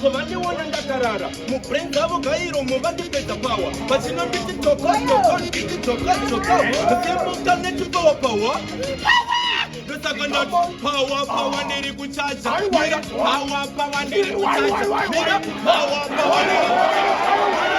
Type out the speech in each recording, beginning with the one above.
ko vandiona ndakarara mubrain dzavo gairo movandipedza pawa vachinonditi tokotokoiti tokotoka mukemuka netipawa pawa ndosaka ndati pawa pawa ndiri kuchaja mira pawa pawa ndiri kuchaja mira pawa pawa ndiri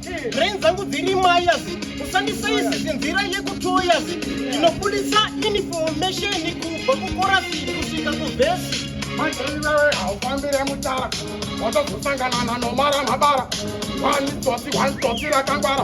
brain dzangu dziri mayas usandisaizi sinzira yekutoyas ndinobudisa information kubva kukorasi kusvika kuvhesi manziriwewe haufambire mutara watozosanganana nomara mabara wani tsotsi wani tsotsi rakangwara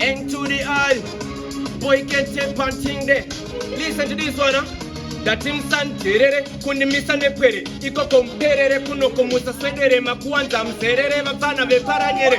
End to the eye. Boy can't take panting there. Listen to this one, huh? ndati musanzerere kundimisa nepwere ikoko muperere kunoko musaswedere makuwanza muzerere vapfana veparanyere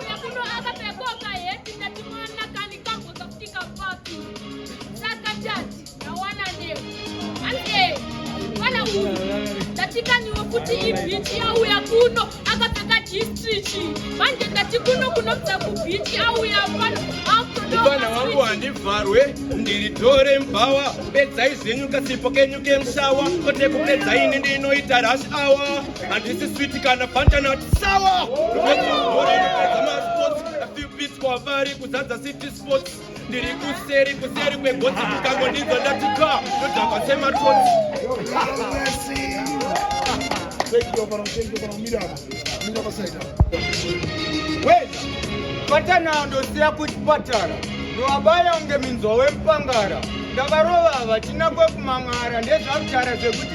ndatikaniwo kuti ibhichi yauya kuno akapfeka jistrichi manje ndati kuno kunobva kubhichi auya pano mwana wangu handivharwe ndiri dore mbhawa pedzai zvenyu kasipo kenyu kemshawa kote kupedzaini ndinoita rash awa Handisi switi kana butternut sour. kwavari kuzadza city sports ndiri kuseri kuseri kwegotsi kukango ndidzo ndati ka ndodhakwa sematotsi patana ndosiya kuchipatara ndovabaya kunge minzwa wemupangara ndavarova vachina kwekumang'ara ndezvakutara zvekuti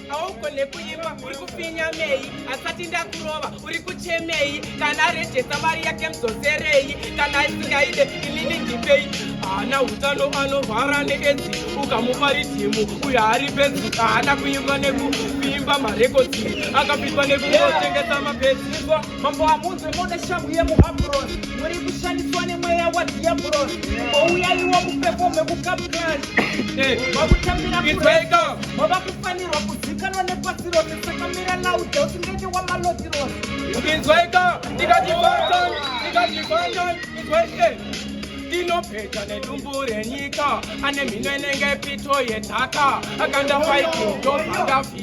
haugone kuimba uri kupfinyamei asati ndakurova uri kuchemei kana arejesa mari yake mudzoserei kana aisingaide inini ndipei haana utano anorwara needzi ukamupa ridhimu uyo haari bedzi haana kuimba nekuvimba marekodzi akapitwa nekungotengesa mabedzi mambo hamunzwe mode shamhu yemuhabhuroni muri kushandiswa nemweya wadhiyabhuroni ouyaiwa kupefome kukapurani vakutambira mava kufanirwa kuzikanwa nepasi rose sakamira laude kuti ndende wamaloti rose inzwaika ndikatifandan ndikatifandan inzwaike ndinopedza nedumbu renyika ane mhino inenge pito yedhaka akandafaikudobandafia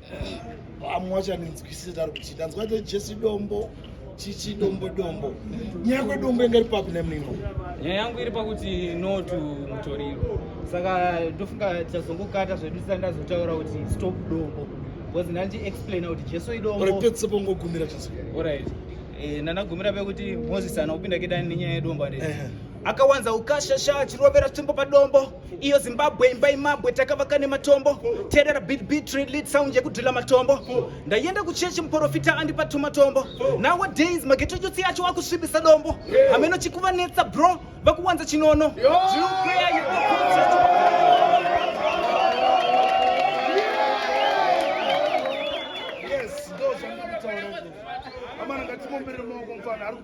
vamwe vachanenzwisisa tari kuti tanzwa te jesi dombo chichi dombo dombo nyaya kwedombo inge iri papi nemimo nyaya yangu iri pakuti no to mutoriro saka ndofunga tichazongokata zvedu tisati ndazotaura kuti stop dombo bcause ndandi explaina kuti jesu idombopedzisepongogumira jesu orit eh, ndanagumira pekuti moses ana kupinda kedani nenyaya yedombo ande akawanza ukashasha chirovera tsvimbo padombo iyo zimbabwe imba imabwe takavaka nematombo terera btbtreadlead sound yekudhila matombo ndaienda kuchechi muporofita andipa tumatombo nowadays magetochotsi acho akusvibisa dombo hameno chikuvanetsa bro vakuwanza chinono Yes, those are not all. I'm not going to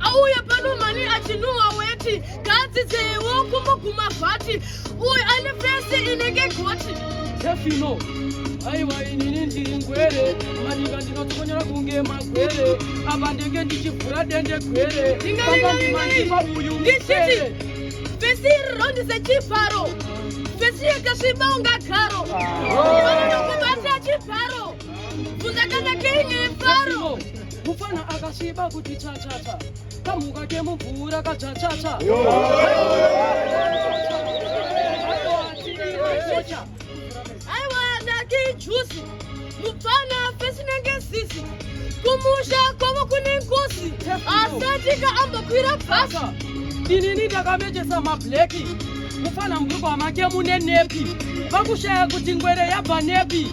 auye pano mani achinhuwa weti ngaadzidzewo kumuguma vhati uyu ane fesi inenge goti tefino aiwa inini ndiri ngwere maninga ndinotonyora kunge magwere apa ndenge ndichivhura dende gwere angandimandipa uyu msere fesi iri rondise chivharo fesi yakasviba unga garo ah. vanonokubatira chivharo Muzakanga kenge faro. Mufana akasviba kuti cha cha cha. Kamuka kemubvura ka cha cha cha. Aiwa ndaki juice. Mufana fesina ngesisi. Kumusha kwavo kune nkosi. Asati ka ambakwira basa. Inini ndakamejesa mableki. Mufana mubhuku amake mune nepi. Vakushaya kuti ngwere yabva nepi.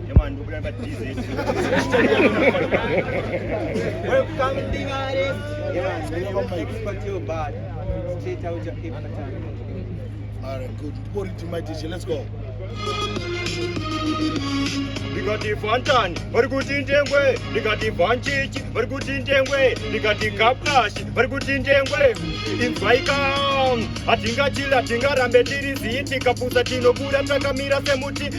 All right, good. Put it to my teacher. Let's go. ndikati fantani vari kuti ndengwe ndikati bhanchichi vari kuti ndengwe ndikati gaplashi vari kuti ndengwe inzwaika hatingachili hatingarambe tiri zii tikapusa tinobuda takamira semuti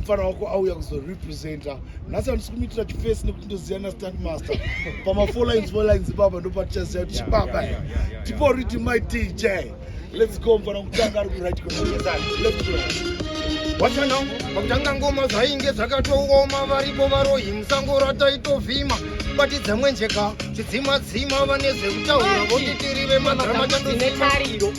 mfana wako auya kuzorepresenta nhasi andisi kumuitira chifesi nekuti ndoziva nastand master pamafour lines four lines baba ndopatichaziva kuti chibaba tipo riti my dj let's go mfana kutanga ari kurit wachana pakutanga ngoma zvainge zvakatooma varipo varohi musango rataitovhima bati dzamwenjeka chidzimadzima vane zvekutaura votitiri vemadrama chandoine tariro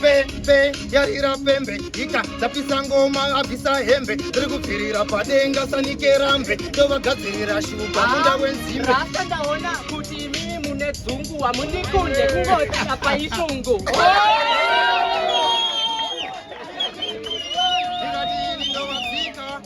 pembe yarira pembe ika dzapisa ngoma abvisa hembe tiri kubvirira padenga sanikerambe tovagadzirira shuga ah, munda wenzimbe rasta ndaona kuti imi mune dzungu hamundikunde kungoti apa ishungu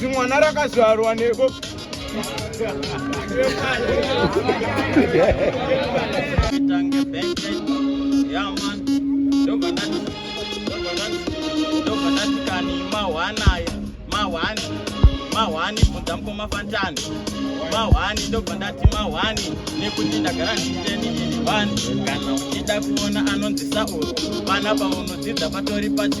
zimwana rakazvarwa neko mahwani bvunza mukoma fantani mahwani ndobva ndati mahwani nekuti ndagara ndichiteni iri vani kana uchida kuona anonzisa uru pana paunodzidza patori pati